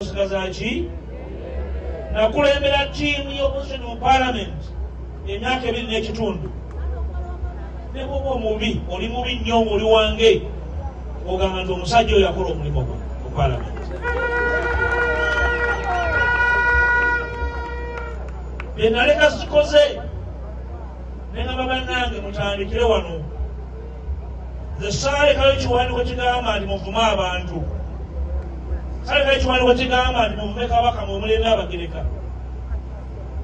Nsigaza ki? Nakulembera ttiimu y'opposition mu parliament emyaka ebiri n'ekitundu. Ne bwoba omubi, oli mubi nnyo ng'oli wange, ogamba nti omusajja oyo yakola omulimu gwe mu parliament. Bye naleka sikoze, ne ngamba bannange mutandikire wano. Sale kale kiwandiiko kigamba nti muvume abantu. Sale kale kiwandiiko kigamba nti muvume kabaka mwe mulembe Abagereka.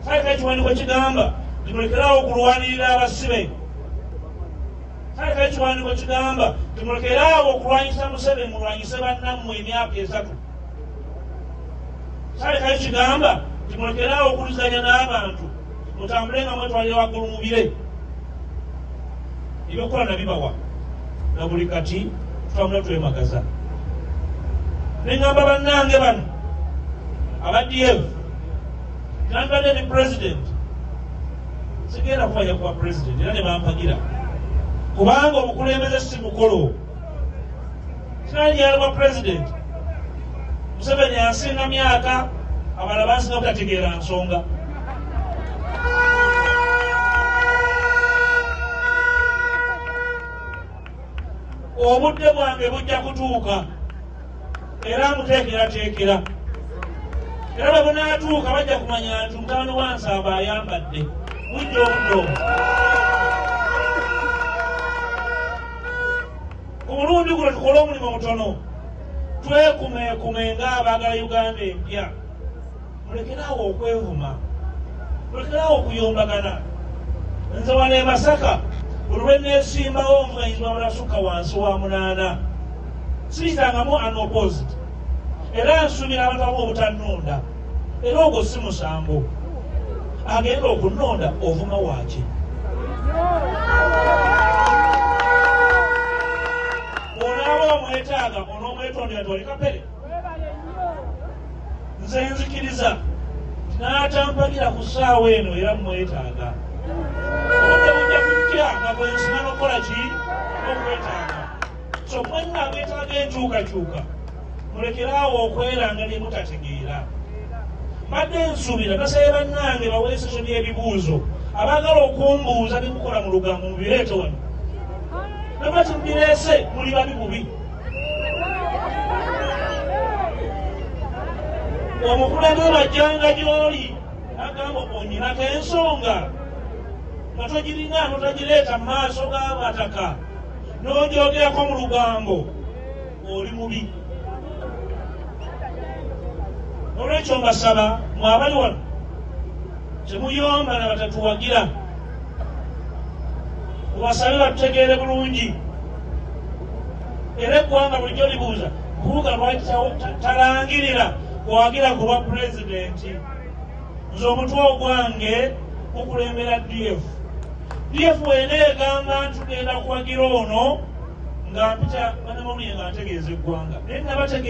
Sale kale kiwandiiko kigamba nti mulekerawo okulwanirira abasibe. Sale kale kiwandiiko kigamba nti mulekerawo okulwanyisa Museveni mulwanyise bannammwe emyaka esatu. Sale kale kigamba nti mulekerawo okulizanya n'abantu. mutambule nga mwetwalira waggulu mu bire ebyokukola nabibawa na buli kati tutambula twemagaza neŋamba bannange bano aba df nandibadde ne president sigenda kubaja kuba president era nebampagira kubanga omukulembeze si mukolo sinanyi yalibwa pulezidenti museveni yasinga myaka abala basinga butategeera nsonga obudde bwange bujja kutuuka era muteekerateekera era bwe bunaatuuka bajja kumanya nti mutano wansamba ayambadde bujja obudde obwo ku mulundi guno tukole omulimu mutono twekumeekume ng'abaagala uganda empya mulekeraawo okwevuma mulekeraawo okuyombagana nze wano e masaka olweneesimbawo omwayizwa mulasukka wansi wa munaana siyitangamu anopositi era nsubira abantu abamu obutannunda era ogwo si musango agenda okunonda ovuma waaki onaaba omwetaaga onomwetondera tolikapere nze nzikiriza n'atampagira ku ssaawa eno era mumwetaaga obudde bujja kujja nga bwensima nokukola ki okwetaaga kyokka nno ageetaaga enkyukakyuka mulekere awo okweranga ne mutategeera mbadde nsuubira nasabye bannange baweeseso by'ebibuuzo abaagala okumbuuza ne mukola mu lugambo mubireete wano nabati mubireese muli babi bubi omukulembeze bajjanga gy'oli agamba onyinako ensonga nga togirina notagireeta mu maaso g'abataka n'onjogerako mu lugambo oli mubi olwekyo mbasaba mwabali wano temuyomba na batatuwagira mubasabe batutegeere bulungi era eggwanga bulijjo libuuza kubuga lwaki talangirira kuwagira ku bwa pulezidenti nze omutwe ogwange gukulembera df df wena egamba nti tugenda kuwagira ono nga mpita banamawulire nga ntegeeza eggwanga naye nabategeeza